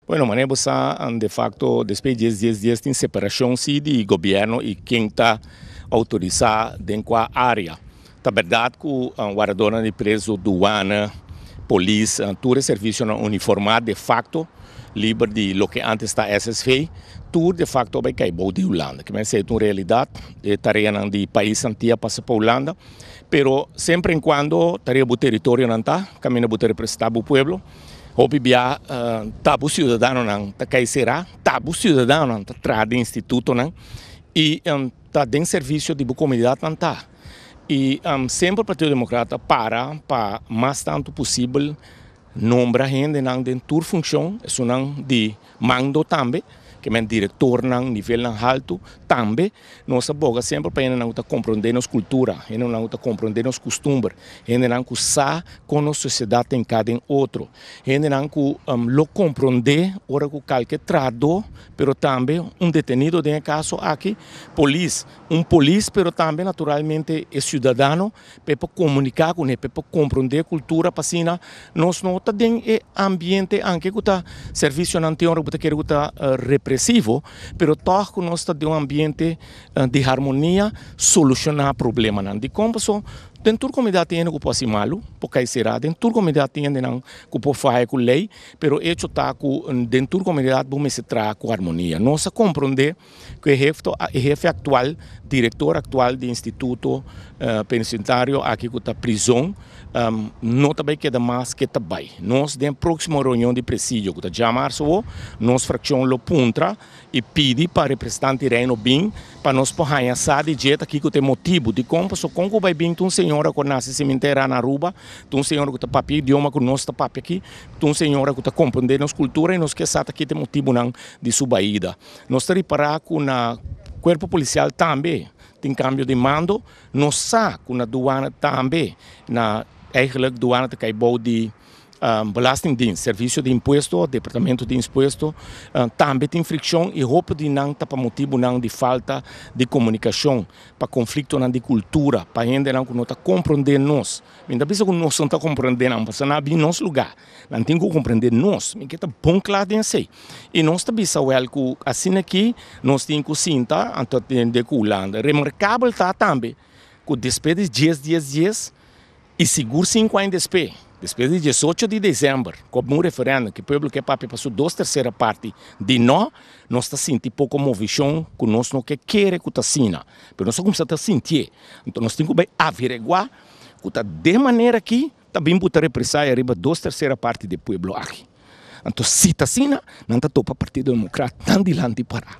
Bueno, manera bo sa, de facto despues dies dies dies tin separacion si di gobierno y ken ta autorisa den cua area. Ta berdad cu waradornan di preso, duana, polis, tur e servicionan uniforma de facto liber di loke antes ta SSV, tur de facto a bay cay bou di Hulanda. Kimen sa e ta un realidad, e tareanan di paisan tin a pasa pa Hulanda, pero semper en cuando tarea bo teritorionan ta, caminda bo ta representa bo pueblo, Hopi biaha ta bo siudadanonan ta kei será, ta bo siudadanonan ta traha den institutonan i ta den servisio di bo komunidat nan ta. I semper Partido Democrata a para pa mas tantu posibel nombra hendenan den tur funkshon esunnan di Mando tambe ke men direktornan nivelnan haltu tambe nos a boga semper pa hendenan ku ta komprondé nos kultura, hendenan ku ta komprondé nos kustumber, hendenan ku sa kon nos sosiedat ta enká den otro, hendenan ku lo komprondé ora ku kalke trahadó pero tambe un detenido den e kaso aki, polis, un polis pero tambe naturalmente e siudadano. pa e por comunica cu ne, pa e por comprende e cultura pa asina nos no ta den e ambiente anke cu ta servicionan tin ora cu bo ta kere cu ta represivo pero toch cu nos ta den un ambiente di harmonia soluciona problemanan dicon paso den tur comunidad tin yende cu por haci malo por cay cera den tur comunidad tin yende nan cu por faya cu ley pero e hecho ta cu den tur comunidad bo mester traha cu harmonia nos a comprende. ku e hefto e hefe aktual direktor aktual di instituto penitentario aki ku ta prizon no ta bai keda mas ke ta bai nos den proksimo reunion di presidio ku ta djama Arsbo nos frakshon lo puntra i pidi pa representante Reino bin pa nos por haña sa di dje ta kiko ta e motibu dikon paso kon ku bai bin ta un señora ku a nase i siment'é a rana Aruba ta un señora ku ta papia e idioma ku nos ta papia aki ta un señora ku ta komprendé nos kultura i nos ke sa ta ki ta e motibunan di su baida. Nos ta ripará ku na kuerpo polisial tambe tin kambio di mando. Nos sa ku na duana tambe na, eigelik duana ta kai bou di belastingdiens, servisio di impuesto òf departamento di impuesto, tambe tin frikshon i hopi di nan ta pa motibunan di falta di komunikashon, pa konfliktonan di kultura, pa hendenan ku no ta komprondé nos. Mi ta bisa ku nos no ta komprondé nan pasobra nan a bin nos lugá. Nan tin ku komprendé nos, mi ke ta bon kla den esei. I nos ta bisa wèl ku asina ki nos tin ku sinta anto atende ku Hulanda. Remarkabel ta tambe ku despues di dies dies dies i sigur sinku aña despues, despues di diesocho di desèmber, ku a bin un referèndum ku e pueblo ke papia pa su dos tersera parti di no, nos ta sinti poko movishon ku nos no ke kere ku ta asina. Pero nos a kumsa ta sintié. Anto nos tin ku bai avereguá ku ta den manera ki Ta bin buta represaya riba dos tersera parti di e pueblo aki. Anto si ta asina, nan ta topa Partido Democrat nan dilanti para.